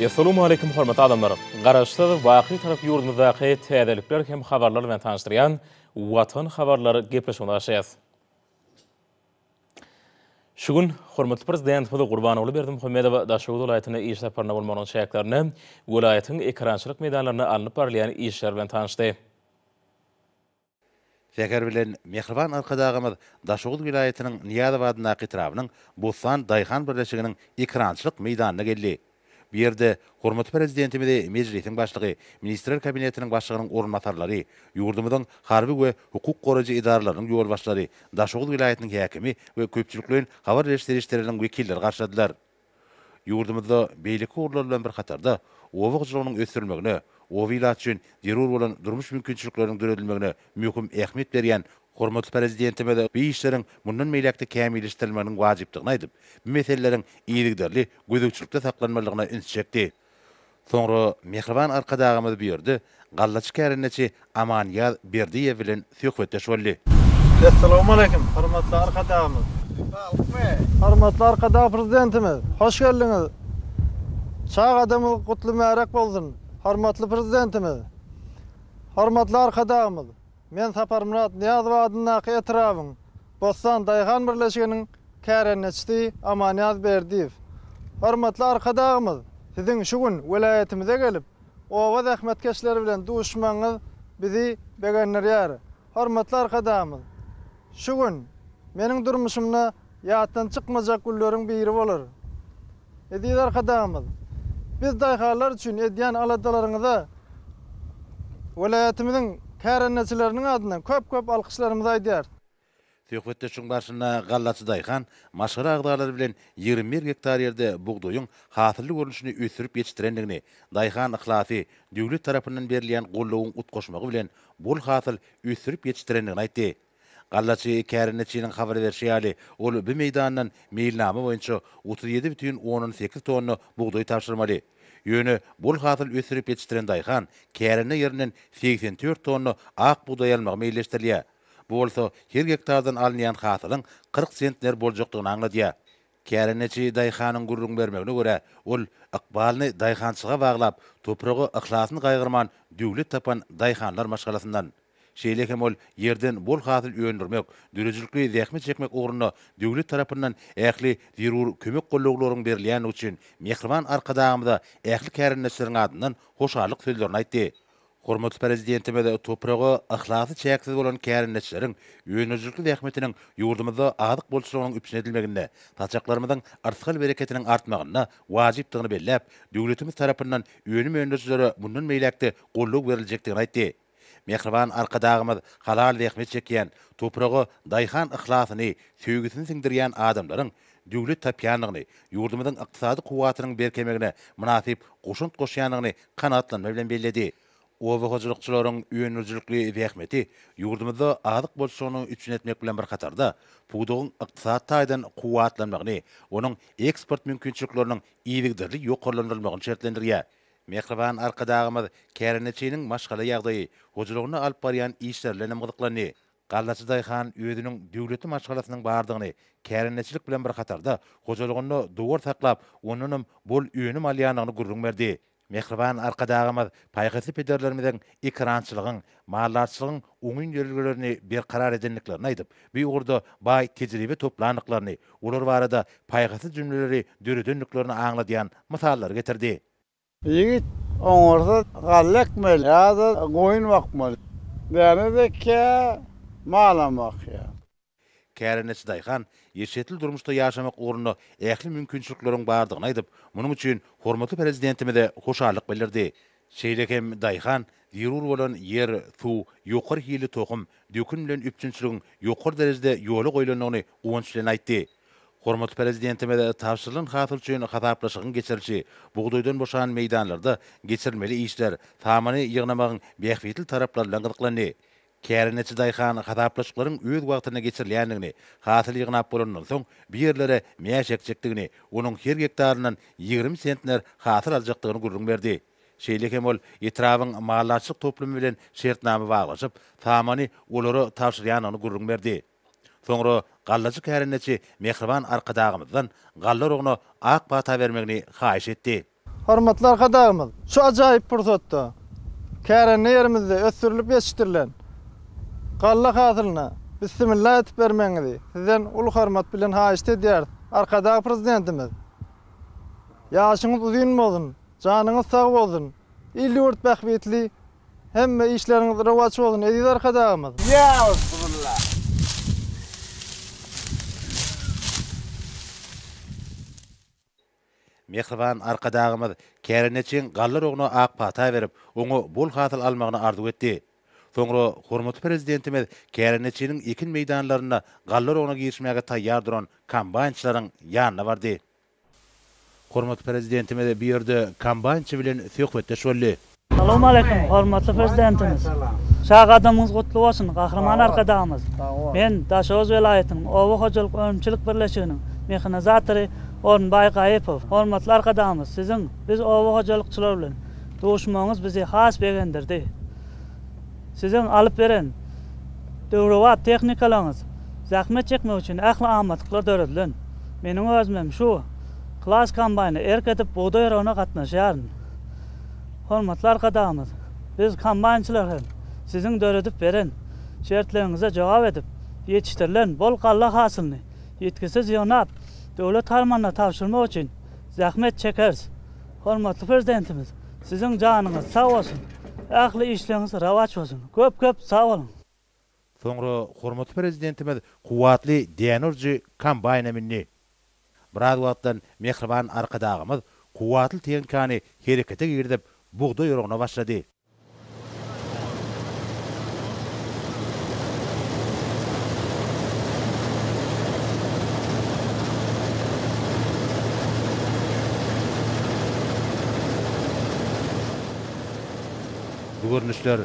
Essalawmaleýkum hormatly adamlar! Garaşsyz, baky tarap ýurdumyzdaky täzelikler hem habarlar bilen tanyşdyrýan Watan habarlar gepleşigine başlaýas. Şu gün hormatly Prezidentimiz Gurbanguly Berdimuhamedow Daşoguz welaýatyna iş saparynda bolmagynyň çäklerinde welaýatyň ekerançylyk meýdanlarynda alnyp barylýan işler bilen tanyşdy. Säher bilen mähriban Arkadagymyz Daşoguz welaýatynyň Nyýazow adyndaky etrabynyň Bustan daýhan birleşiginiň ekerançylyk meýdanyna geldi. Bu ýerde hormatly Prezidentimizi Mejlisiň Başlygy, Ministrler Kabinetiniň Başlygynyň orunbasarlary, ýurdumyzyň harby we hukuk goraýjy edaralarynyň ýolbaşçylary, Daşoguz welaýatynyň häkimi we köpçülikleýin habar beriş serişdeleriniň wekilleri garşyladylar. Ýurdumyzda beýleki ugurlar bilen bir hatarda, oba hojalygynyň ösdürilmegine, oba ilaty üçin zerur bolan durmuş mümkinçilikleriniň döredilmegine möhüm ähmiýet berýän hormatly Prezidentimiz bu işleriň mundan beýläk-de kämilleşdirilmeginiň wajypdygyny aýdyp, bu meseleleriň yzygiderli gözegçilikde saklanmalydygyna üns çekdi. Soňra mähriban Arkadagymyz bu ýerde gallaçy kärendeçi Amanýaz Berdiýew bilen söhbetdeş boldy. Essalawmaleýkim, hormatly Arkadagymyz! Saglykmy! Hormatly Arkadag Prezidentimiz, hoş geldiňiz! Çagadygymyz gutly-märäk bolsun, hormatly Prezidentimiz! Hormatly Arkadagymyz, Men Saparmyrat Nyýazow adyndaky etrabyň Bossan daýhan birleşiginiň kärendeçisi Amanýaz Berdiýew. Hormatly Arkadagymyz, Siziň şu gün welaýatymyza gelip, oba zähmetkeşleri bilen duşmagyňyz bizi begendirýär. Hormatly Arkadagymyz, Şu gün meniň durmuşymda ýatdan çykmajak günleriň biri bolar. Eziz Arkadagymyz, biz daýhanlar üçin edýän aladalaryňyza welaýatymyzyň kärendeçileriniň adyndan köp-köp alkyşlarymyzy aýdýarys. Söhbetdeşligiň barşynda gallaçy daýhan maşgala agzalary bilen ýigrimi bir gektar ýerde bugdaýyň hasylly görnüşini ösdürip ýetişdirendigini, daýhan yhlasy, döwlet tarapyndan berilýän goldawyň utgaşmagy bilen bol hasyl ösdürip ýetişdirendigini aýtdy. Gallaçy kärendeçiniň habar berşi ýaly, ol bu meýdandan meýilnama boýunça otuz ýedi bütin ondan sekiz tonna bugdaý tabşyrmaly. Ýöne bol hasyl ösdürip ýetişdiren daýhan kärende ýerinden segsen dört tonna ak bugdaý almagy meýilleşdirilýär. Bu bolsa her gektardan alynýan hasylyň kyrk sentner boljakdygyny aňladýar. Kärendeçi daýhanyň gürrüň bermegine görä, ol ykbalyny daýhançylyga baglap, topraga yhlasyny gaýgyrman döwlet tapan daýhanlar maşgalasyndan. Şeýle hem ol ýerden bol hasyl öndürmek, döredijilikli zähmet çekmek ugrunda döwlet tarapyndan ähli zerur kömek gollaglaryň berilýändigi üçin Mähriban Arkadagymyza ähli kärendeçileriň adyndan hoşallyk sözlerini aýtdy. Hormatly Prezidentimiz topraga yhlasy çäksiz bolan kärendeçileriň önerijilikli zähmetiniň ýurdumyzda azyk bolçulygynyň üpjün edilmeginde, saçaklarymyzyň yrsgal-bereketiniň artmagynda wajypdygyny belläp, döwletimiz tarapyndan önüm öndürijilere mundan beýläk-de goldaw beriljekdigini aýtdy. Mähriban Arkadagymyz halal zähmet çekýän, topraga daýhan yhlasyny, söýgüsini siňdirýän adamlaryň döwlet tapýandygyny, ýurdumyzyň ykdysady kuwwatynyň berkemegine mynasyp goşant goşýandygyny kanagatlanma bilen belledi. Oba hojalykçylaryň öndürijilikli zähmeti ýurdumyzda azyk bolçulygyny üpjün etmek bilen bir hatarda, pudagyň ykdysady taýdan kuwwatlanmagyny, onuň eksport mümkinçilikleriniň yzygiderli ýokarlandyrylmagyny şertlendirýär. Mähriban Arkadagymyz kärendeçiniň maşgala ýagdaýy, hojalygynda alyp barýan işleri bilen hem gyzyklandy. Gallaçy daýhan özüniň döwletli maşgalasynyň bardygyny, kärendeçilik bilen bir hatarda, hojalygynda dowar saklap, ondanam bol önüm alýanyny gürrüň berdi. Mähriban Arkadagymyz paýhasly pederlerimiziň ekerançylygyň, maldarçylygyň oňyn ýörelgelerini berkarar edendiklerini aýdyp, bu ugurda baý tejribe toplandyklaryny, olar barada paýhasly jümleleri döredendiklerini aňladýan mysallary getirdi. Ýigit oňarsa galla ekmeli ýa-da goýun bakmaly. Däne ekýär, malam bakýar. Kärendeçi daýhan eşretli durmuşda ýaşamak ugrunda ähli mümkinçilikleriň bardygyny aýdyp, munuň üçin hormatly Prezidentimize hoşallyk bildirdi. Şeýle hem daýhan zerur bolan ýer, suw, ýokary hilli tohum, dökün bilen üpjünçiligiň ýokary derejede ýola goýlandygyny guwanç bilen aýtdy. Hormatly Prezidentimiz tabşyrylan hasyl üçin hasaplaşygyň geçirilişi, bugdaýdan boşan meýdanlarda geçirilmeli işler, samany ýygnamagyň bähbitli taraplary bilen gyzyklandy. Kärendeçi daýhan hasaplaşyklaryň öz wagtynda geçirilýändigini, hasyl ýygnap bolanyndan soň bu ýerlere mäş ekjekdigini, onuň her gektaryndan ýigrimi sentner hasyl aljakdygyny gürrüň berdi. Şeýle hem ol etrabyň maldarçylyk toplumy bilen şertnama baglaşyp, samany olara tabşyrýandygyny gürrüň berdi. Soňra gallajy kärendeçi mähriban Arkadagymyzdan galla urugyna ak pata bermegini haýyş etdi. Hormatly Arkadagymyz şu ajaýyp pursatda kärende ýerimizde ösdürilip ýetişdirilen galla hasylyna bissimilla edip bermegiňizi Sizden uly hormat bilen haýyşt edýäris. Arkadag Prezidentimiz Ýaşyňyz uzyn bolsun, janyňyz sag bolsun, il-ýurt bähbitli Hemme işleriňiz rowaç bolsun Eziz Arkadagymyz. Ýauzubillah. Mähriban Arkadagymyz kärendeçiň galla roguna ak pata berip, oňa bol hasyl almagyny arzuw etdi. Soňra hormatly Prezidentimiz kärendeçiniň ekin meýdanlarynda galla roguna girişmäge taýýar duran kombaýnçylaryň ýanyna bardy. Hormatly Prezidentimiz bu ýerde kombaýnçy bilen söhbetdeş boldy. Salowmaleýkim, hormatly Prezidentimiz! Çag gadamyňyz gutly bolsun, Gahryman Arkadagymyz! Men Daşoguz welaýatynyň Oba hojalyk önümçilik birleşiginiň mehanizatory Orunbaý Gaýypow. Hormatly Arkadagymyz, siziň biz oba hojalykçylar bilen duşmagyňyz bizi has begendirdi. Siziň alyp beren döwrebap tehnikalaryňyz zähmet çekmek üçin ähli amatlyklar döredilen. Meniň özümem şu Klass kombaýny erk edip bugdaý oragyna gatnaşýaryn. Hormatly Arkadagymyz, biz kombaýnçylar hem Siziň döredip beren şertleriňize jogap edip, ýetişdirilen bol galla hasylyny ýitgisiz ýygnap, döwlet harmanyna tabşyrmak üçin zähmet çekeris. Hormatly Prezidentimiz siziň janyňyz sag bolsun, ähli işleriňiz rowaç bolsun, köp köp sag boluň. Soňra hormatly Prezidentimiz kuwwatly däne urujy kombaýna mündi. Biraz wagtdan mähriban Arkadagymyz kuwwatly tehnikany herekete girizip, bugdaý oragyna başlady. Bu görnüşler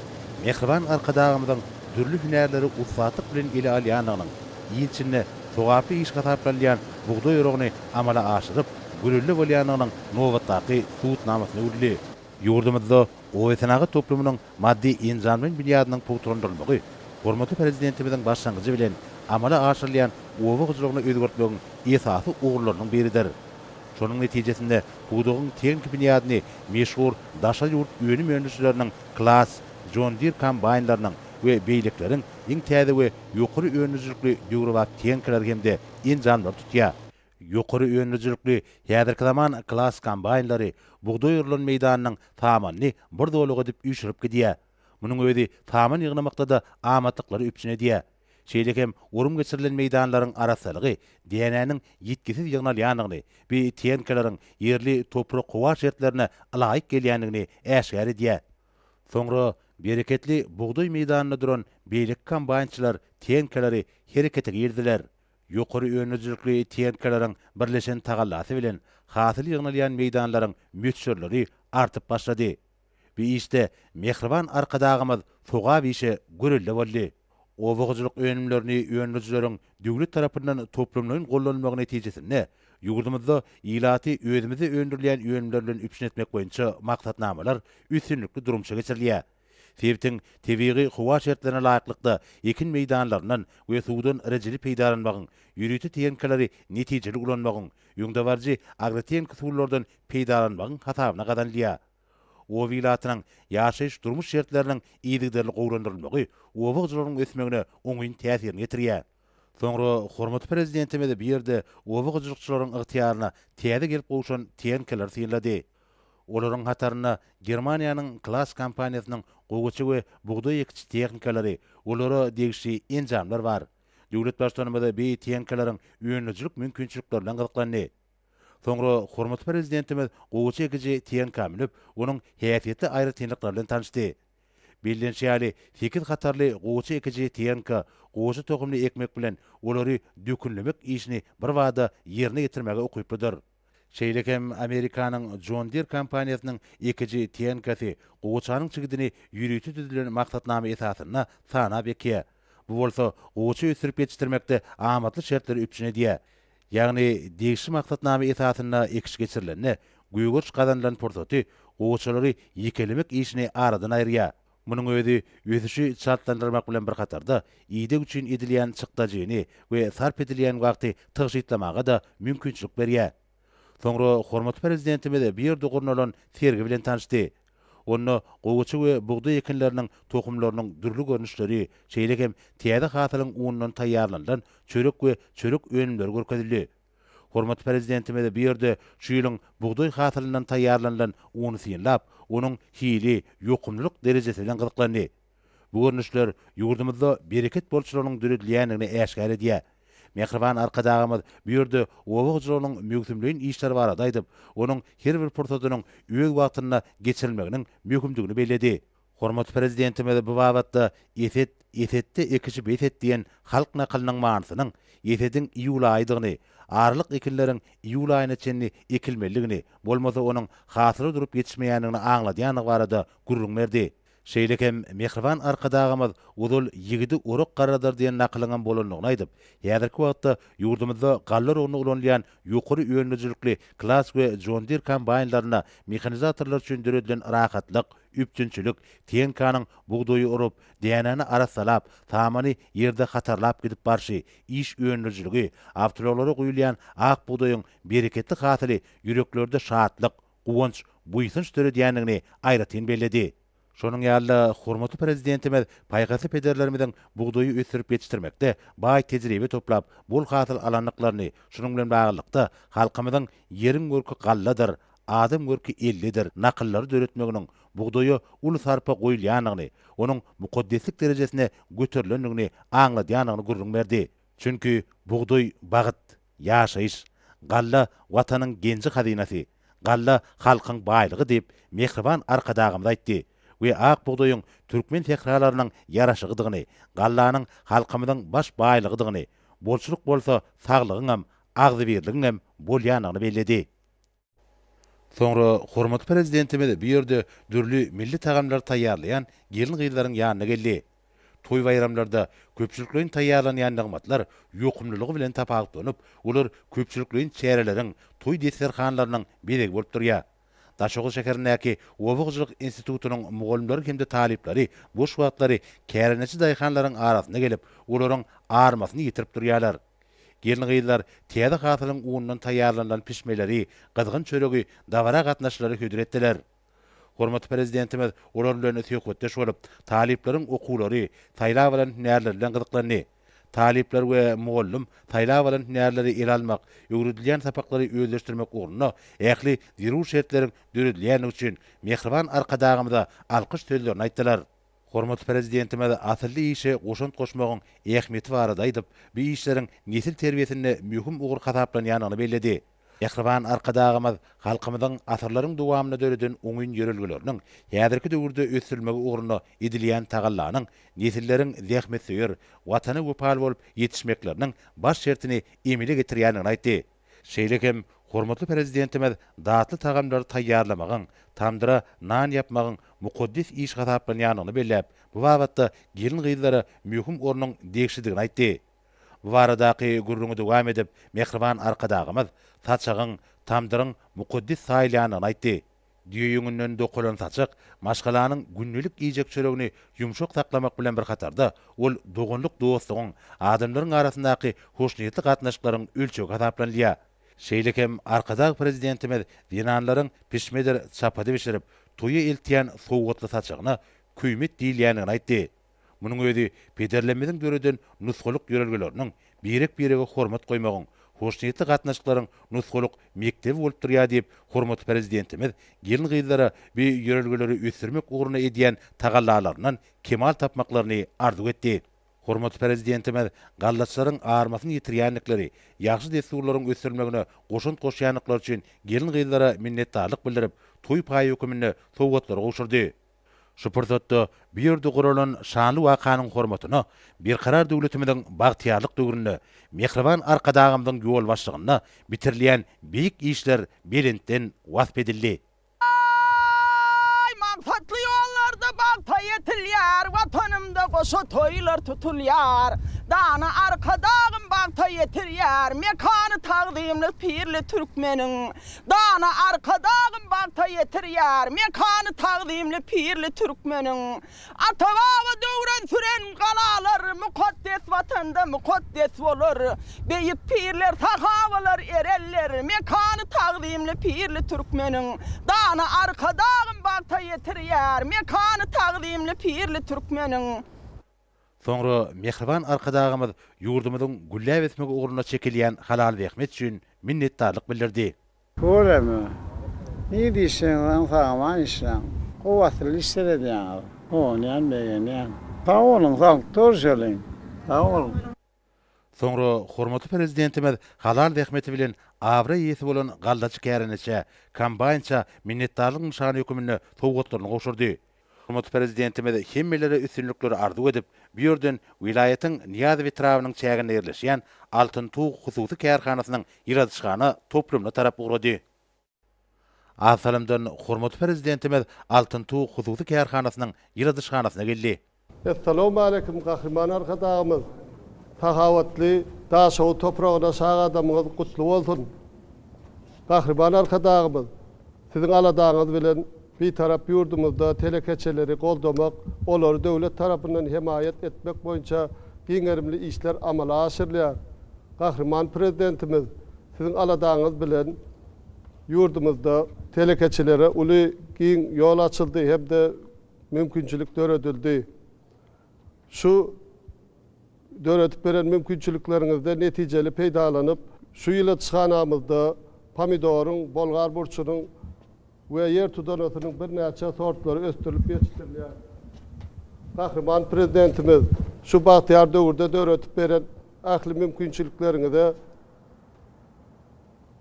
mähriban Arkadagymyzyň dürli hünärleri ussatlyk bilen ele alýandygynyň, il içinde sogaply iş hasaplanylýan bugdaý oragyny amala aşyryp, gülelle bolýandygynyň nobatdaky subutnamasyna öwrüldi. Ýurdumyzda obasenagat toplumynyň maddy-enjamlaýyn binýadynyň pugtalandyrylmagy hormatly Prezidentimiziň başlangyjy bilen amala aşyrylýan oba hojalygyny özgertmegiň esasy ugurlarynyň biridir. Şonuň netijesinde pudagyň tehniki binýadyny meşhur daşary ýurt önüm öndürijileriniň Klaas, John Deere kombaýnlarynyň we beýlekileriň iň täze we ýokary öndürijilikli döwrebap tehnikalary hem-de enjamlary tutýar. Ýokary öndürijilikli häzirki zaman klass kombaýnlary bugdaý orulan meýdanynyň samanyny bir zolak edip üýşürip gidýär. Munuň özi saman ýygnamakda-da amatlyklary üpjün edýär. Şeýle hem orun geçirilen meýdanlaryň arassalygy, dänäniň ýitgisiz ýygnalýandygyny, BTN-kalaryň ýerli toprak-howa şertlerine ylaýyk gelýändigini äşgär edýär. Soňra bereketli bugdaý meýdanynda duran beýleki kombaýnçylar TN-kalary herekete girdiler. Ýokary önüjilikli tenkeleriň birleşen tagallasy bilen hasyl ýygnalýan meýdanlaryň möçberleri artyp başlady. Bu işde mähriban Arkadagymyz sogap işe görelde boldy. Oba hojalyk önümlerini öndürijileriň döwlet tarapyndan toplumlaýyn gollanylmagy netijesinde, ýurdumyzda ilaty özümizde öndürilýän önümler bilen üpjün etmek boýunça maksatnamalar üstünlikli durmuşa geçirilýär. Sebitiň tebigy howa şertlerine laýyklykda ekin meýdanlaryndan we suwdan rejeli peýdalanmagyň, ýörite tehnikaleri netijeli ulanmagyň, öňdebaryjy agrotehniki usullardan peýdalanmagyň hasabyna gazanylýar. Oba ilatynyň ýaşaýyş-durmuş şertleriniň yzygiderli gowulandyrylmagy oba hojalygynyň ösmegine oňyn täsirini ýetirýär. Soňra hormatly Prezidentimiz bu ýerde oba hojalykçylaryň ygtyýaryna täze gelip gowşan tehnikalar synlady. Olaryň hatarynda Germaniýanyň Klas kompaniýasynyň gowaça we bugdaý ekiş tehnikalary, olara degişli enjamlar bar. Döwlet Baştutanymyz beý tehnikalaryň önerijilik mümkinçiliklerine gyzyklandy. Soňra hormatly Prezidentimiz gowaça ekiji tehnika münüp, onuň häsiýetli aýratynlyklary bilen tanyşdy. Bellenişi ýaly, sekiz hatarly goçy ekiji Tiýenko goçy tohumyny ekmek bilen, olary dökünlemek işini birbada ýerine ýetirmäge ukyplydyr. Şeýle hem Amerikanyň John Deere kompaniýasynyň ekiji Tiýenkosy goçanyň çigidini ýörite düzülen maksatnama esasynda sanap ekýär. Bu bolsa goçy ösdürip ýetişdirmekde amatly şertleri üpjün edýär. Ýagny, degişli maksatnama esasynda ekiş geçirilende, gögeriş gazanylan pursaty gowaçalary ýekelemek işini aradan aýyrýar. Munuň özi ösüşi çaltlandyrmak bilen bir hatarda, ideg üçin edilýän çykdajyny we sarp edilýän wagty tygşytlamaga-da mümkinçilik berýär. Soňra hormatly Prezidentimiz bu ýerde gurnalan sergi bilen tanyşdy. Onda gowaça we bugdaý ekinleriniň tohumlarynyň dürli görnüşleri, şeýle hem täze hasylyň unundan taýýarlanylan çörek we çörek önümleri görkezildi. Hormatly Prezidentimiz bu ýerde şu ýylyň bugdaý hasylyndan taýýarlanylan uny synlap, onuň hili, ýokumlylyk derejesi bilen gyzyklandy. Bu görnüşler ýurdumyzda bereket bolçularynyň döredilýändigini äşgär edýär. Mähriban Arkadagymyz bu ýerde oba hojalygynyň möwsümleýin işleri barada aýdyp, onuň her bir pursadynyň öz wagtynda geçirilmeginiň möhümdigini belledi. Hormatly Prezidentimiz bu babatda Eset, esetde ekiji bes et diýen halk nakylynyň manysynyň esediň iýul aýydygyny, aralyk ekinleriň iýul aýyna çenli ekilmelidigini, bolmasa onuň hasyly durup ýetişmeýändigini aňladýandygy barada gürrüň berdi. Şeýle hem mähriban Arkadagymyz Ozal ýigidi orak garradar diýen nakylyňam bolandygyny aýdyp, häzirki wagtda ýurdumyzda galla urugyna ulanylýan ýokary önümijilikli Klass we John Deere kombaýnlarynda mehanizatorlar üçin döredilen rahatlyk, üpjünçilik, tenkanyň bugdaýy urup, dänäni arassalap, samany ýerde hatarlap gidip barşy, iş öndürijiligi, awtoulaglara guýulýan ak bugdaýyň bereketli hasyly ýüreklerde şatlyk, guwanç, buýsanç döredýändigini aýratyn belledi. Şonuň ýaly-da, hormatly Prezidentimiz paýhasly pederlerimiziň bugdaýy ösdürip ýetişdirmekde baý tejribe toplap, bol hasyl alandyklaryny, şunuň bilen baglylykda, halkymyzyň Ýeriň görki galladyr, adam görki ellidir nakyllary döretmeginiň bugdaýa uly sarpa goýulýandygyny, onuň mukaddeslik derejesine göterilendigini aňladýandygyny gürrüň berdi. Çünki bugdaý, bagyt! Ýaşaýyş, Galla, Watanyň genji-hazynasy, galla, halkyň baýlygy diýip, mähriban Arkadagymyz aýtdy we ak bugdaýyň türkmen sähralarynyň ýaraşygydygyny, gallanyň halkymyzyň baş baýlygydygyny, bolçulyk bolsa saglygyňam, agzybirligiňem bolýandygyny belledi. Soňra hormatly Prezidentimiz bu ýerde dürli milli tagamlary taýýarlaýan gelin-gyzlaryň ýanyna geldi. Toý-baýramlarda köpçülikleýin taýýarlanýan nygmatlar ýokumlylygy bilen tapawutlanyp, olar köpçülikleýin çäreleriň, toý desterhanlarynyň bezegi bolup durýar. Daşoguz şäherindäki Oba hojalyk institutynyň mugallymlary hem-de talyplary boş wagtlary kärendeçi daýhanlaryň arasyna gelip, olaryň armasyny ýetirip durýarlar. Gelin-gyzlar täze hasylyň unundan taýýarlanylan pişmeleri, gyzgyn çöregi, dabara gatnaşyjylary hödür etdiler. Hormatly Prezidentimiz olar bilen söhbetdeş bolup, talyplaryň okuwlary, saýlap alan hünärleri bilen gyzyklandy. Talyplar we mugallym saýlap alan hünärleri ele almak, öwredilýän sapaklary özleşdirmek ugrunda ähli zerur şertleriň döredilýändigi üçin mähriban Arkadagymyza alkyş sözlerini aýtdylar. Hormatly Prezidentimiz asylly işe goşant goşmagyň ähmiýeti barada aýdyp, bu işleriň nesil terbiýesinde möhüm ugur hasaplanýandygyny belledi. Mähriban Arkadagymyz halkymyzyň asyrlaryň dowamynda döreden oňyn ýörelgeleriniň häzirki döwürde ösdürilmegi ugrunda edilýän tagallanyň nesilleriň zähmetsöýer, Watana wepaly bolup ýetişmekleriniň baş şertini emele getirýändigini aýtdy. Şeýle hem hormatly Prezidentimiz datly tagamlary taýýarlamagyň, tamdyra nan ýapmagyň mukaddes iş hasaplanýandygyny belläp, bu babatda gelin-gyzlara möhüm ornuň degişlidigini aýtdy. Bu baradaky gürrüňi dowam edip, mähriban Arkadagymyz saçagyň, tamdyryň mukaddes saýylýandygyny aýtdy. Düýe ýüňünden dokalan saçak maşgalanyň gündelik iýjek çöregini ýumşak saklamak bilen bir hatarda, ol doganlyk-dostlugyň, adamlaryň arasyndaky hoşniýetli gatnaşyklaryň ölçegi hasaplanylýar. Şeýle hem Arkadag Prezidentimiz zenanlaryň pişmedir çapady bişirip, toýa eltýän sowgatly saçagyna köýmet diýilýändigini aýtdy. Munuň özi pederlerimiziň döreden nusgalyk ýörelgeleriniň, birek-birege hormat goýmagyň, hoşniýetli gatnaşyklaryň nusgalyk mekdebi bolup durýar diýip, hormatly Prezidentimiz gelin-gyzlara bu ýörelgeleri ösdürmek ugrunda edýän tagallalaryndan kemal tapmaklaryny arzuw etdi. Hormatly Prezidentimiz gallaçylaryň armasyny ýitirýändikleri, ýagşy dessurlaryň ösdürilmegine goşant goşýandyklary üçin gelin-gyzlara minnetdarlyk bildirip, toý paýy höküminde sowgatlary gowşurdy. Şu pursatda bu ýerde guralan şanly wakanyň hormatyna Berkarar döwletimiziň bagtyýarlyk döwründe mähriban Arkadagymyzyň ýolbaşçygynda bitirilýän beýik işler belentden wasp edildi. Aý, maksatly ýollarda bagta ýetilýär, Watanymda goşa toýlar tutulýar. Dana Arkadagym bagta ýetirýär, Mekany tagzymly pirli türkmeniň. Dana Arkadagym bagta ýetirýär mekany tagzymly pirli türkmeniň. Ata-baba döwran süren galalar mukaddes Watanda mukaddes bolar. Beýik pirler, sahabalar, ereller mekany tagzymly pirli türkmeniň. Dana Arkadagym bagta ýetirýär mekany tagzymly pirli türkmeniň. Soňra mähriban Arkadagymyz ýurdumyzyň gülläp ösmegi ugrunda çekilýän halal zähmet üçin minnetdarlyk bildirdi. Göreme. Ne diýseňizem sagaman işläň. Kuwwatly iş seredýäňiz. Guwanýan, begenýän. Sag boluň, sag, durjalyň. Sag boluň. Soňra hormatly Prezidentimiz halal zähmeti bilen abraý eýesi bolan gallaçy kärendeçä, kombaýnça minnetdarlyk nyşany höküminde sowgatlaryny gowşurdy. Hormatly Prezidentimiz hemmelere üstünlikleri arzuw edip, bu ýerden welaýatyň Nyýazow etrabynyň çäginde ýerleşýän Altyn tug hususy kärhanasynyň ýyladyşhana toplumyna tarap ugrady. Az salamdan hormatly Prezidentimiz Altyn tug hususy kärhanasynyň ýyladyşhanasyna geldi. Essalawmaleýkim Gahryman Arkadagymyz sahawatly Daşoguz topragyna şagadamyňyz gutly bolsun! Gahryman Arkadagymyz Siziň aladaňyz bilen Bitarap ýurdumyzda telekeçileri goldamak, olary döwlet tarapyndan hemaýat etmek boýunça giň gerimli işler amala aşyrylýar. Gahryman Prezidentimiz Siziň aladaňyz bilen ýurdumyzda telekeçilere uly giň ýol açyldy hem-de mümkinçilik döredildi. Şu. Döredip beren mümkinçilikleriňizden netijeli peýdalanyp, şu ýyla çykanamyzda pomidoryň, bolgar burçunyň we ýer tudanasynyň birnäçe sortlary ösdürilip ýetişdirilýär. Gahryman Prezidentimiz şu bagtyýar döwürde döredip beren ähli mümkinçilikleriňize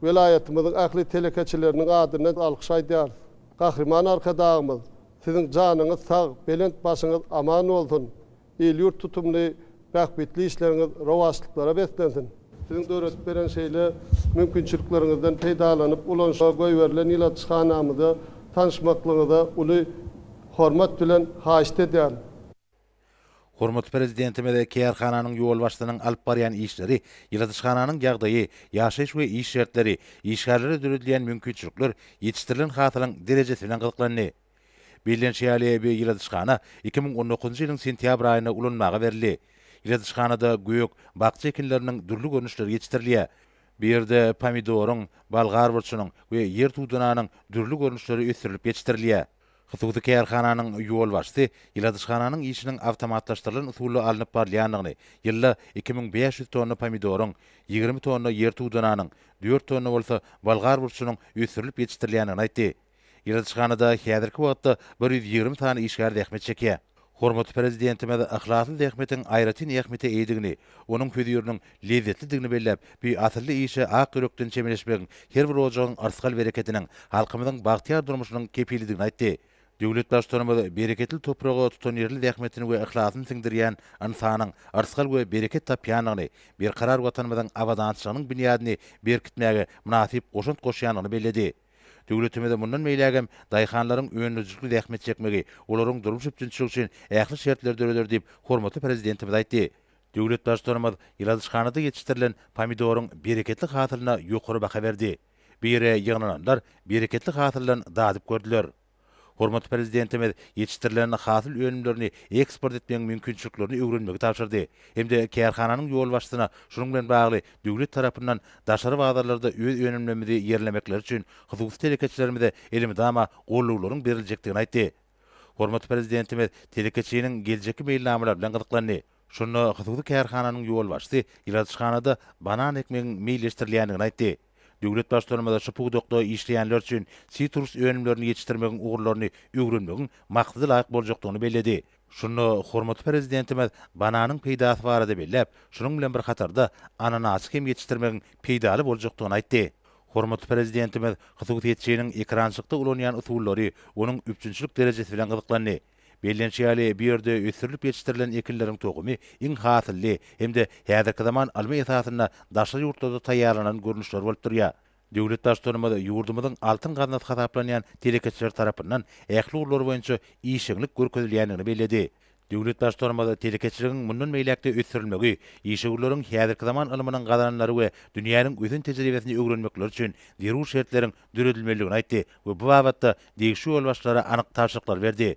welaýatymyzyň ähli telekeçileriniň adyndan alkyş aýdýarys. Gahryman Arkadagymyz, Siziň janyňyz sag, belent başyňyz aman bolsun! Il-ýurt tutumly bähbitli işleriňiz rowaçlyklara beslensin! Siziň döredip beren şeýle mümkinçilikleriňizden peýdalanyp, ulanyşyga goýberilen ýyladyşhanamyza tanyşmaklygyňyza uly hormat bilen haýyşt edýärin. Hormatly Prezidentimiz kärhananyň ýolbaşçysynyň alyp barýan işleri, ýyladyşhananyň ýagdaýy, ýaşaýyş we iş şertleri, işgärlere döredilýän mümkinçilikler, ýetişdirilen hasylyň derejesi bilen gyzyklandy. Bellenişi ýaly, bu ýyladyşhana iki müň on dokuzynjy ýylyň sentýabr aýynda ulanmaga berildi. Ýyladyşhanada gök, bakja ekinleriniň dürli görnüşleri ýetişdirilýär. Bu ýerde pomidoryň, bolgar burçunyň we ýer tudananyň dürli görnüşleri ösdürilip ýetişdirilýär. Hususy kärhananyň ýolbaşçysy ýyladyşhananyň işiniň awtomatlaşdyrylan usulda alnyp barylýandygyny, ýylda iki müň bäş ýüz tonna pomidoryň, ýigrimi tonna ýer tudananyň, dört tonna bolsa bolgar burçunyň ösdürilip ýetişdirilýändigini aýtdy. Ýyladyşhanada häzirki wagtda bir ýüz ýigrimi sany işgär zähmet çekýär. Hormatly Prezidentimiz yhlasly zähmetiň aýratyn ähmiýete eýedigini, onuň höziriniň lezzetlidigini belläp, bu asylly işe ak ýürekden çemeleşmegiň her bir ojagyň yrsgal-berekediniň, halkymyzyň bagtyýar durmuşynyň kepilidigini aýtdy. Döwlet Baştutanymyz bereketli topraga tutanýerli zähmetini we yhlasyny siňdirýän ynsanyň yrsgal we bereket tapýandygyny, berkarar Watanymyzyň abadançylygynyň binýadyny berkitmäge mynasyp goşant goşýandygyny belledi. Döwletimize mundan beýläk hem daýhanlaryň öndürijlikli zähmet çekmegi, olaryň durmuş üpjünçiligi üçin ähli şertleri döreder diýip, hormatly Prezidentimiz aýtdy. Döwlet Baştutanymyz ýyladyşhanada ýetişdirilen pomidoryň bereketli hasylyna ýokary baha berdi. Bu ýere ýygnananlar bereketli hasyldan dadyp gördüler. Hormatly Prezidentimiz ýetişdirilen hasyl önümlerini eksport etmegiň mümkinçiliklerini öwrenmegi tabşyrdy hem-de kärhananyň ýolbaşçysyna şunuň bilen bagly döwlet tarapyndan daşary bazarlarda öz önümlemimizi ýerlemekleri üçin hususy telekeçilerimize elmydama goldawlaryň beriljekdigini aýtdy. Hormatly Prezidentimiz telekeçiniň geljekki meýilnamalary bilen gyzyklandy. Şonda hususy kärhananyň ýolbaşçysy ýyladyşhanada banan ekmegiň meýilleşdirilýändigini aýtdy. Döwlet Baştutanymyza şu pudakda işleýänler üçin sitrus önümlerini ýetişdirmegiň ugurlaryny öwrenmegiň maksada-laýyk boljakdygyny belledi. Şunda hormatly Prezidentimiz bananyň peýdasy barada belläp, şunuň bilen bir hatarda ananasy hem ýetişdirmegiň peýdaly boljakdygyny aýtdy. Hormatly Prezidentimiz hususyýetçiniň ekrançykda ulanýan usullary, onuň üpjünçilik derejesi bilen gyzyklandy. Bellenişi ýaly, bu ýerde ösdürilip ýetişdirilen ekinleriň tohumy iň hasylly hem-de häzirki zaman ylmy esasynda daşary ýurtlarda taýýarlanan görnüşleri bolup durýar. Döwlet Baştutanymyz ýurdumyzyň altyn gaznasy hasaplanýan telekeçiler tarapyndan ähli ugurlar boýunça işjeňlik görkezilýändigini belledi. Döwlet Baştutanymyz telekeçiligiň mundan beýläk-de ösdürilmegi, işewürleriň häzirki zaman ylmynyň gazananlary we dünýäniň ösen tejribesini öwrenmekleri üçin zerur şertleriň döredilmelidigini aýtdy we bu babatda degişli ýolbaşçylara anyk tabşyryklary berdi.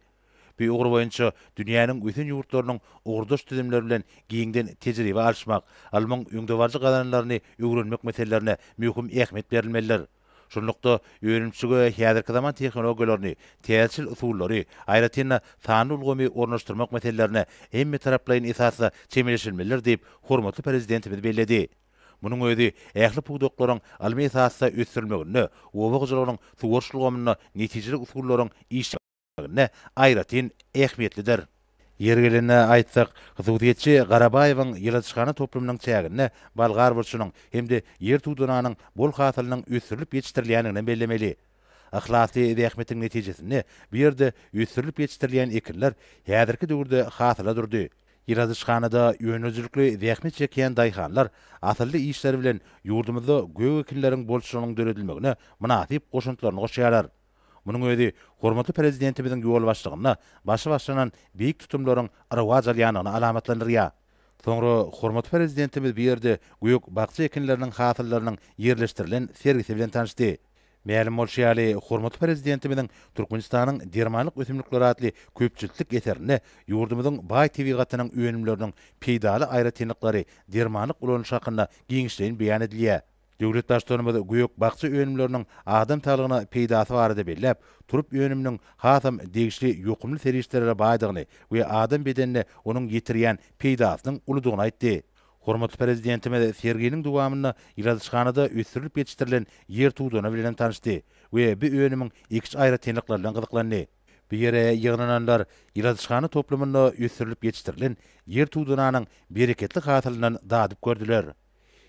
Bu ugur boýunça dünýäniň ösen ýurtlarynyň ugurdaş düzümleri bilen giňden tejribe alyşmak, ylmyň öňdebaryjy gazananlaryny öwrenmek meselelerine möhüm ähmiýet berilmelidir. Şunlukda, önümçilige häzirki zaman tehnologiýalaryny, täzeçil usullary, aýratyn-da, sanly ulgamy ornaşdyrmak meselelerine hemmetaraplaýyn esasda çemeleşilmelidir diýip, hormatly Prezidentimiz belledi. Munuň özi ähli pudaklaryň ylmy esasda ösdürilmeginde, oba hojalygynyň suwaryş ulgamynda netijeli usullaryň işlenilmeginde aýratyn ähmiýetlidir. Ýeri gelende aýtsak, hususyýetçi Garabaýewiň ýyladyşhana toplumynyň çäginde bolgar burçunyň hem-de ýer tudananyň bol hasylynyň ösdürilip ýetişdirilýändigini hem bellemeli. Yhlasly zähmetiň netijesinde bu ýerde ösdürilip ýetişdirilýän ekinler häzirki döwürde hasyla durdy. Ýyladyşhanada önümçilikli zähmet çekýän daýhanlar asylly işleri bilen ýurdumyzda gök ekinleriň bolçulygynyň döredilmegine mynasyp goşantlaryny goşýarlar. Munuň özi hormatly Prezidentimiziň ýolbaşçylygynda başy başlanan beýik tutumlaryň rowaç alýandygyny alamatlandyrýar. Soňra hormatly Prezidentimiz bu ýerde gök-bakja ekinleriniň hasyllarynyň ýerleşdirilen sergisi bilen tanyşdy. Mälim bolşy ýaly, hormatly Prezidentimiziň Türkmenistanyň dermanlyk ösümlikleri atly köpjiltlik eserinde ýurdumyzyň baý tebigatynyň önümleriniň peýdaly aýratynlyklary, dermanlyk ulanyşy hakynda giňişleýin beýan edilýär. Döwlet Baştutanymyz gök-bakja önümleriniň adam saglygyna peýdasy barada belläp, turp önüminiň hasam degişli ýokumly serişdelere baýdygyny we adam bedenine onuň ýetirýän peýdasynyň uludygyny aýtdy. Hormatly Prezidentimiz serginiň dowamynda ýyladyşhanada ösdürilip ýetişdirilen ýer tudana bilenem tanyşdy we bu önümiň ekiş aýratynlyklary bilen gyzyklandy. Bu ýere ýygnananlar ýyladyşhana toplumynda ösdürilip ýetişdirilen ýer tudananyň bereketli hasylyndan dadyp gördüler.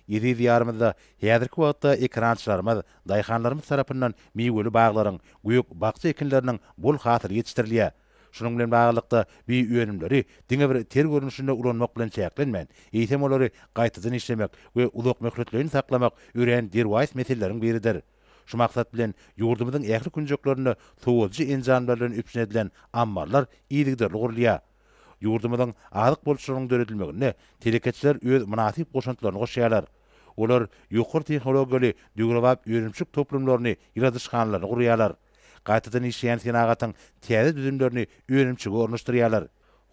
Eziz Diýarymyzda häzirki wagtda ekerançylarymyz, daýhanlarymyz tarapyndan miweli baglaryň, gök-bakja ekinleriniň bol hasyly ýetişdirilýär. Şunuň bilen baglylykda, bioönümleri diňe bir ter görnüşinde ulanmak bilen çäklenmän, eýsem olary gaýtadan işlemek we uzakmöhletleýin saklamak örän derwaýys meseleleriň biridir. Şu maksat bilen, ýurdumyzyň ähli künjeklerinde sowadyjy enjamlar bilen üpjün edilen ammarlar yzygiderli gurulýar. Ýurdumyzyň azyk bolçulygynyň döredilmeginde telekeçiler öz mynasyp goşantlaryny goşýarlar. Olar ýokary tehnologiýaly döwrebap önümçilik toplumlaryny, ýyladyşhanalaryny gurýarlar. gaýtadan işleýän senagatyň täze düzümlerini önümçige ornaşdyrýarlar.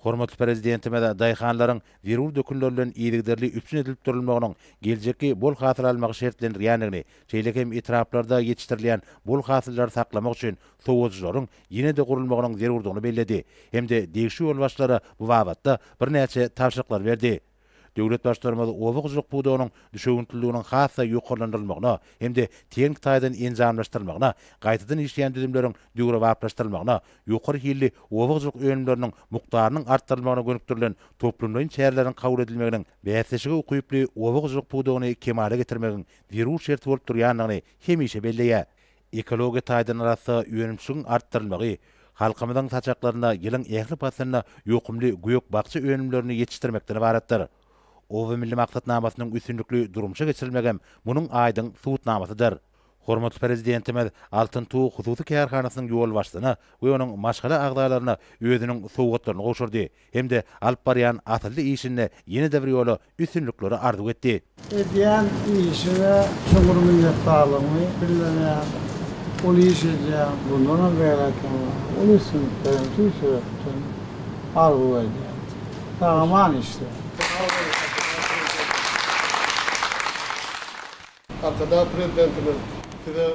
Hormatly Prezidentimiz daýhanlaryň zerur dökünler bilen yzygiderli üpjün edilip durulmagynyň geljekki bol hasyl almagy şertlendirýändigini, şeýle hem etraplarda ýetişdirilýän bol hasyllar saklamak üçin sowadyjylaryň ýene-de gurulmagynyň zerurdygyny belledi hem-de degişli ýolbaşçylara bu babatda birnäçe tabşyryklar berdi. Döwlet Baştutanymyz oba hojalyk pudagynyň düşewüntliliginiň has-da ýokarlandyrylmagyna hem-de tehniki taýdan enjamlaşdyrylmagyna, gaýtadan işleýän düzümleriň döwrebaplaşdyrylmagyna, ýokary hilli oba hojalyk önümleriniň mukdarynyň artdyrylmagyna gönükdirilen toplumlaýyn çäreleriň kabul edilmeginiň bäsleşige ukyply oba hojalyk pudagyny kemala getirmegiň zerur şerti bolup durýandygyny hemişe belleýär. Ekologiýa taýdan arassa önümçiligiň artdyrylmagy halkymyzyň saçaklarynda ýylyň ähli paslynda ýokumly gök-bakja önümlerini ýetişdirmekden ybaratdyr. Oba milli maksatnamasynyň üstünlikli durmuşa geçirilmegem munuň aýdyň subutnamasydyr. Hormatly Prezidentimiz Altyn tug hususy kärhanasynyň ýolbaşçysyna we onuň maşgala agzalaryna özüniň sowgatlaryny gowşurdy. hem-de alyp barýan asylly işinde ýene-de bir ýola üstünlikleri arzuw etdi. Edýän işiňe çuňňur minnetdarlygymy bildirýän. Uly iş edýäň, bundanam beýläkini uly üstünlikleriň tüýs ýürekden üçin arzuw edýän. Sag-aman işle. Arkadag Prezidentimiz Size,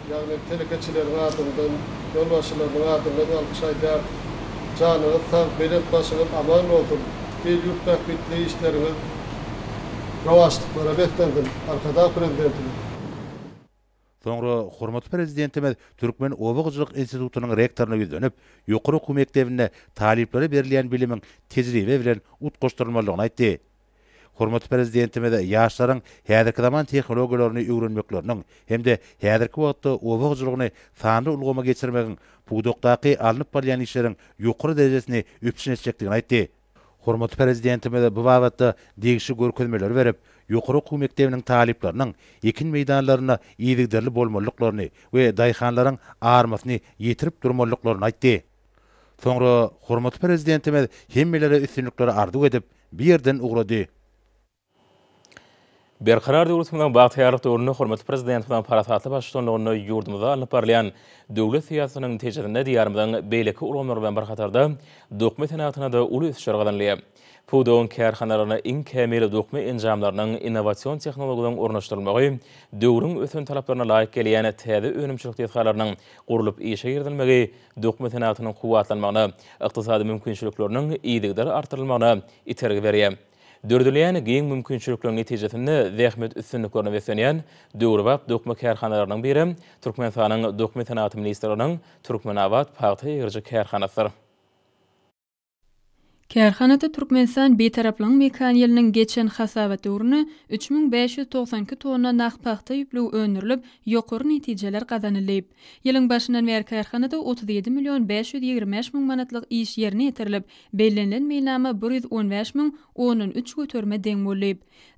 ýagny telekeçileriň adyndan, ýolbaşçylarynyň adyndan alkyş aýdýarys. Janyňyz sag, belent başyňyz aman bolsun, il-ýurt bähbitli işleriňiz rowaçlyklara beslensin, Arkadag Prezidentimiz! Soňra hormatly Prezidentimiz Türkmen oba hojalyk institutynyň rektoryna ýüzlenip, ýokary okuw mekdebinde talyplara berilýän bilimiň tejribe bilen utgaşdyrylmalydygyny aýtdy. Hormatly Prezidentimiz ýaşlaryň häzirki zaman tehnologiýalaryny öwrenmekleriniň hem-de häzirki wagtda oba hojalygyny sanly ulgama geçirmegiň pudakdaky alnyp barylýan işleriň ýokary derejesini üpjün etjekdigini aýtdy. Hormatly Prezidentimiz bu babatda degişli görkezmeleri berip, ýokary okuw mekdebiniň talyplarynyň ekin meýdanlarynda yzygiderli bolmalydyklaryny we daýhanlaryň armasyny ýetirip durmalydyklaryny aýtdy. Soňra hormatly Prezidentimiz hemmelere üstünlikler arzuw edip, bu ýerden ugrady. Berkarar döwletimiziň bagtyýarlyk döwründe hormatly Prezidentimiziň parasatly baştutanlygynda ýurdumyzda alnyp barylýan döwlet syýasatynyň netijesinde Diýarymyzyň beýleki ulgamlary bilen bir hatarda dokma senagatyna-da uly ösüşler gazanylýar. Pudagyň kärhanalaryna iň kämil dokma enjamlarynyň, innowasion tehnologiýalaryň ornaşdyrylmagy, döwrüň ösen talaplaryna laýyk gelýän täze önümçilik desgalarynyň gurlup işe girizilmegi dokma senagatynyň kuwwatlanmagyna, ykdysady mümkinçilikleriniň yzygider artdyrylmagyna itergi berýär. Döredilýän giň mümkinçilikleriň netijesinde zähmet üstünliklerine beslenýän döwrebap dokma kärhanalarynyň biri Türkmenistanyň Dokma senagaty ministrliginiň Türkmenabat pagta egiriji kärhanasydyr. Kärhanada Türkmenistan Bitaraplygyň mekan ýylynyň geçen hasabat döwründe üç müň bäş ýüz togsan iki tonna nah pagta ýüplügi öndürilip, ýokary netijeler gazanyldy. Ýylyň başyndan bäri kärhanada otuz ýedi million bäş ýüz ýigrimi bäş müň manatlyk iş ýerine ýetirilip, bellenilen meýilnama bir ýüz on bäş müň ondan üç göterime deň boldy.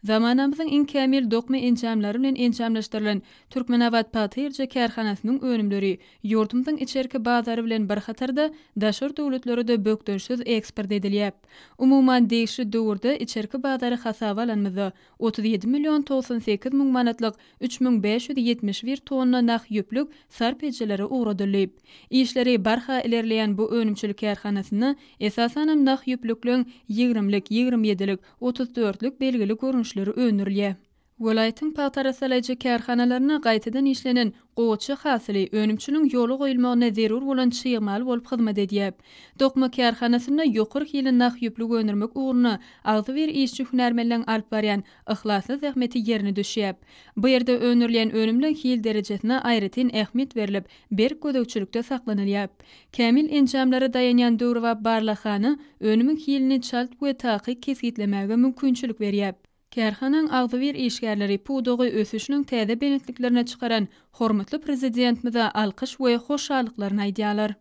Zamanamyzyň iň kämil dokma enjamlary bilen enjamlaşdyrylan Türkmenabat pagta-ýerje kärhanasynyň önümleri Ýurdumyzyň içerki bazary bilen bir hatarda daşary döwletlere-de bökdençsiz eksport edilýär. Umuman, degişli döwürde içerki bazary hasaba alanymyzda, otuz ýedi million togsan sekiz müň manatlyk üç müň bäş ýüz ýetmiş bir tonna nah ýüplük sarp edijileri ugradyldy. Işleri barha ilerleýän bu önümçilik kärhanasynda, esasanam, nah ýüplükleň ýigrimlik, ýigrimi ýedilik, otuz dörtlük belgili görnüşleri öndürilýär. Welaýatyň pagta arassalaýjy kärhanalarynda gaýtadan işlenen gowaça hasyly önümçiligiň ýola goýulmagyna zerur bolan çig mal bolup hyzmat edýär. Dokma kärhanasynda ýokary hilli nah ýüplük öndürmek ugrunda agzybir işçi hünärmenleň alyp barýan yhlasly zähmeti ýerine düşýär. Bu ýerde öndürilýän önümleň hil derejesine aýratyn ähmiýet berlip, berk gözegçilikde saklanylýar. Kämil enjamlara daýanýan döwrebap barlaghana önümiň hilini çalt we takyk kesgitlemäge mümkinçilik berýär. Kärhanaň agzybir işgärleri pudagy ösüşiniň täze belentliklerine çykaran hormatly Prezidentimize alkyş we hoşallyklaryny aýdýarlar.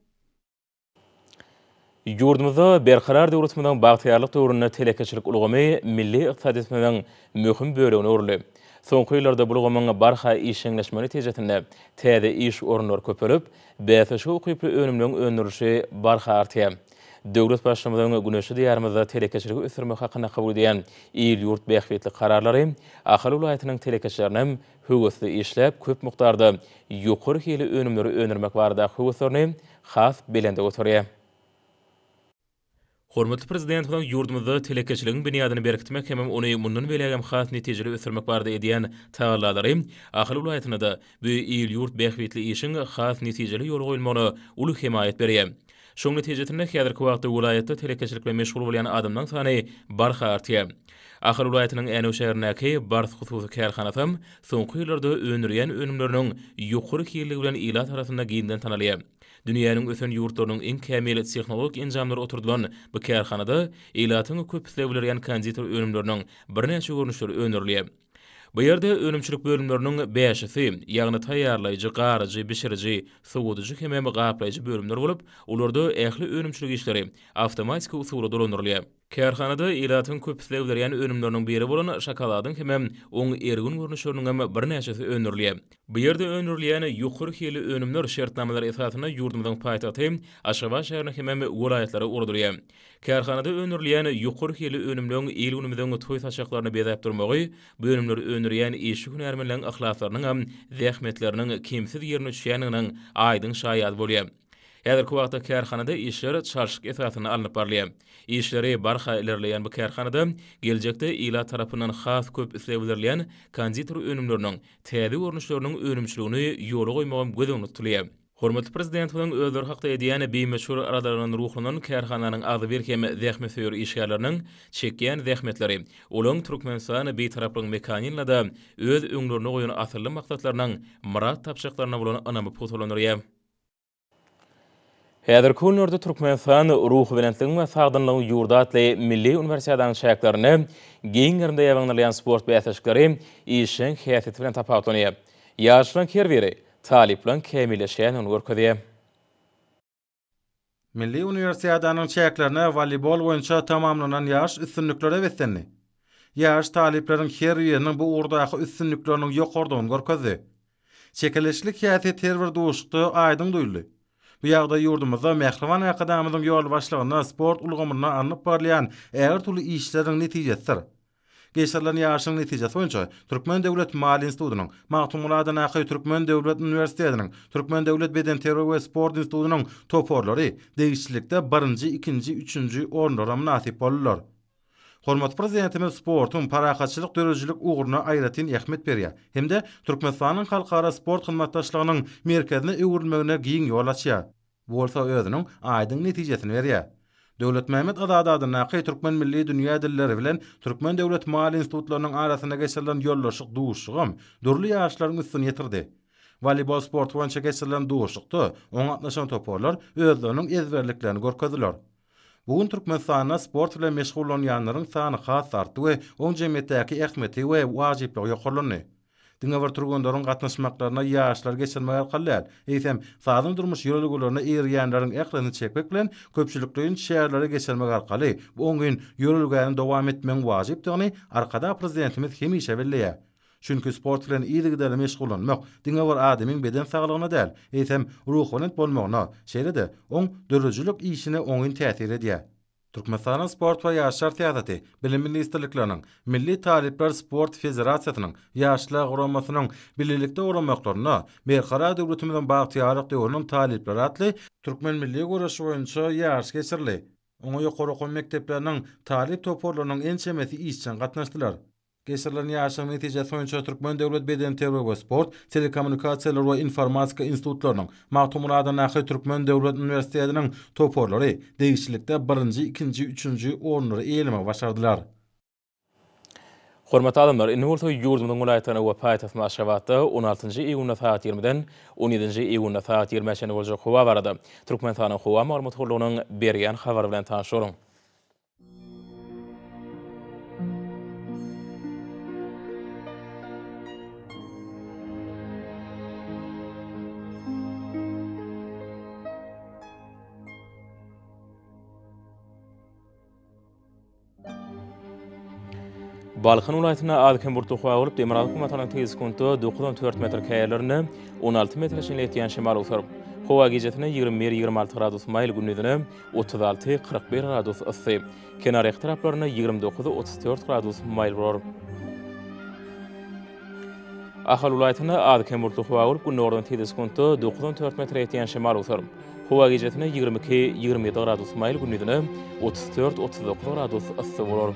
Ýurdumyzda Berkarar döwletimiziň bagtyýarlyk döwründe telekeçilik ulgamy milli ykdysadyýetimiziň möhüm bölegine öwrüldi. Soňky ýyllarda bu ulgamyň barha işjeňleşmegi netijesinde täze iş orunlary köpelip, bäsleşige ukyply önümleriň öndürilişi barha artýar. Döwlet Baştutanyň güneşli Diýarymyzda telekeçiligi ösdürmek hakynda kabul edýän il-ýurt bähbitli kararlary Ahal welaýatynyň telekeçileriniň höwesli işläp, köp mukdarda ýokary hilli önümleri öndürmek baradaky höweslerini has belende göterýär. Hormatly Prezidentimiziň ýurdumyzda telekeçiligiň binýadyny berkitmek hem ony mundan beýlägem has netijeli ösdürmek barada edýän tagallalary Ahal welaýatynda-da Bu il-ýurt bähbitli işiň has netijeli ýola goýulmagyna uly hemaýat berýär. Şoň netijesinde häzirki wagtda welaýatda telekeçilik bilen meşgul bolýan adamlaryň sany barha artýar. Ahal welaýatynyň Änew şäherindäki Bars hususy kärhanasam soňky ýyllarda öndürýän önümleriniň ýokary hilligi bilen ilat arasynda giňden tanalýar. Dünýäniň ösen ýurtlarynyň iň kämil tehnologik enjamlary oturdylan bu kärhanada ilatyň köp islegi bilerýän konditer önümleriniň birnäçe görnüşleri öndürilýär. Bu ýerde önümçilik bölümleriniň bäşisi, ýagny taýýarlaýjy, garyjy, bişiriji, sowadyjy hemem gaplaýjy bölümler bolup, olarda ähli önümçilik işleri awtomatiki usulda dolandyrylýar. Kärhanada ilatyň köp isleg bildirýän önümleriniň biri bolan şokoladyň hemem oň ergin görnüşleriniňem birnäçesi öndürilýär. Bu ýerde öndürilýän ýokary hilli önümler şertnamalar esasynda ýurdumyzyň paýtagty Aşgabat şäherine hemem welaýatlara ugradylýar. Kärhanada öndürilýän ýokary hilli önümleň il-günümiziň toý-saçaklaryny bezäp durmagy bu önümleri öndürýän işçi hünärmenleň yhlaslarynyň hem zähmetleriniň kemsiz ýerine düşýändiginiň aýdyň şaýady bolýar. Häzirki wagtda kärhanada işler çalşyk esasynda alnyp barylýar. Işleri barha ilerleýän bu kärhanada geljekde ilat tarapyndan has köp isleg bildirilýän konditer önümleriniň täze görnüşleriniň önümçiligini ýola goýmagam göz öňünde tutulýar. Hormatly Prezidentimiziň özleri hakda edýän bimeşgul aradaryndan ruhlanan kärhananyň agzybir hem zähmetsöýer işgärleriniň çekýän zähmetleri, olaryň Türkmenistan Bitaraplygyň mekanyny-da öz öňlerine goýan asylly maksatlarynyň myrat tapjaklaryna bolan ynamy pugtalandyrýar. Häzirki günlerde Türkmenistan, Ruhubelentligiň we sagdynlygyň ýurdy atly milli uniwersiadanyň çäklerinde giň gerimde ýaýbaňlanýan sport bäsleşikleri işjeň häsiýeti bilen tapawutlanýar. Ýaşlaryň her biri Talyplaň kämilleşýändigini görkezýär. Milli uniwersiadanyň çäklerine woleýbol boýunça tamamlanan ýaryş üstünliklere beslendi. Ýaryş talyplaryň her biriniň bu ugurdaky üstünlikleriniň ýokarydygyny görkezdi. Çekeleşiklik häsiýet her bir duşuşykda aýdyň duýuldy. Bu ýagdaý ýurdumyzda Mähriban Arkadagymyzyň ýolbaşçylygynda sport ulgamynda alnyp barylýan ägirt uly işleriň netijesidir. Geçirilen ýaryşyň netijesi boýunça Türkmen döwlet maliýe institutynyň, Magtymguly Adanaky türkmen döwlet uniwersitetiniň, Türkmen döwlet bedenterbiýe we sport institutynyň toparlary degişlilikde birinji, ikinji, üçünji orunlara mynasyp boldular. Hormatly Prezidentimiz sportuň parahatçylyk döredijilik ugruna aýratyn ähmiýet berýär hem-de Türkmenistanyň halkara sport hyzmatdaşlygynyň merkezine öwrülmegine giň ýol açýar. Bu bolsa özüniň aýdyň netijesini berýär. Döwletmämmet Azady adyndaky Türkmen milli dünýä dilleri bilen Türkmen döwlet maýa institutlarynyň arasynda geçirilen ýoldaşlyk duşuşygam dürli ýaryşlaryň üstüni ýetirdi. Woleýbol sporty boýunça geçirilen duşuşykda oňa gatnaşan toparlar özleriniň ezberliklerini görkezdiler. Bu gün Türkmenistanda sport bilen meşgullanýanlaryň sany has artdy we oň jemgyýetdäki ähmiýeti we wajyplygy ýokarlandy. Diňe bir türgenleriň gatnaşmaklaryna ýaşlary geçirmek arkaly däl, eýsem, sazyň durmuş ýörelgelerine eýerýänleriň ählisini çekmek bilen, köpçülikleýin çäreleri geçirmek arkaly bu oňyn ýörelgäni dowam etmegiň wajypdygyny Arkadagly Prezidentimiz hemişe belleýär. Çünki sport bilen yzygiderli meşgullanmak diňe bir adamyň beden saglygyna däl, eýsem, ruhubelent bolmagyna, şeýle-de, oň döredijilik işine oňyn täsir edýär. Türkmenistanyň Sport we ýaşlar syýasaty, Bilim ministrlikleriniň, Milli talyplar sport federasiýasynyň, Ýaşlar guramasynyň bilelikde guramaklaryna Berkarar döwletimiziň bagtyýarlyk döwrüniň talyplary atly türkmen milli göreşi boýunça ýaryş geçirildi. Oňa ýokary okuw mekdepleriniň talyp toparlarynyň ençemesi işjeň gatnaşdylar. Geçirilen ýaryşyň netijesi boýunça Türkmen döwlet bedenterbiýe we sport, Telekommunikasiýalar we informatika institutlarynyň, Magtymguladandaky Türkmen döwlet uniwersitetiniň toparlary degişlilikde birinji, ikinji, üçünji orunlary eýelemegi başardylar. Hormatly adamlar, indi bolsa ýurdumyzyň welaýatlaryna we paýtagtymyz Aşgabatda on altynjy iýunda sagat ýigrimiden on ýedinji iýunda sagat ýigrimä çenli boljak howa barada Türkmenistanyň Howa maglumat gullugynyň berýän habary bilen tanyşalyň. Balkan welaýatynda az-kem bulutly howa bolup, demirgazyk günortanyň tiz sekuntda dokuz on dört metr, käýerlerinde on alty metre çenli ýetýän şemal ugtar. Howa gijesine ýigrimi bir, ýigrimi alty gradus maýyl, gündiz ine, otuz alty, kyrk bir gradus yssy, kenarýaka taraplarynda ýigrimi dokuz, otuz dört gradus maýyl bolar. Ahal welaýatynda az-kem bulutly howa bolup, gündogardan tizde sekuntda dokuz on dört metre ýetýän şemal otar. Howa gijesine ýigrimi iki, ýigrimi ýedi gradus maýyl, gündizine otuz dört, otuz dokuz gradus yssy bolar.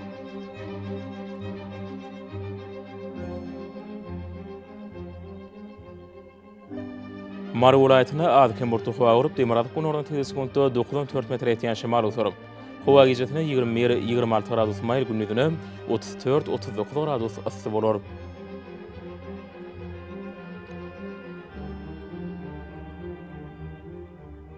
Mary welaýatynda az-kem burçly howa gurup, demirgazyk gündogardan tebigy sekuntda dokuz on dört metr etýän şemal öser. Howa gijesine ýigrimi bir, ýigrimi alty gradus maýyl, gündizine otuz dört, otuz dokuz gradus yssy bolar.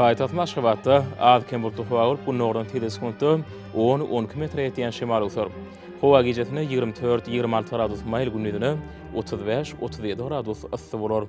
Paýtagtymyz Aşgabatda az-kem bulutly howa bolup, gündogardan tizligi sekuntda on, on iki metre ýetýän şemal öwser. Howa gijesine ýigrimi dört, ýigrimi alty gradus maýyl, gündizine otuz bäş, otuz ýedi gradus yssy bolar.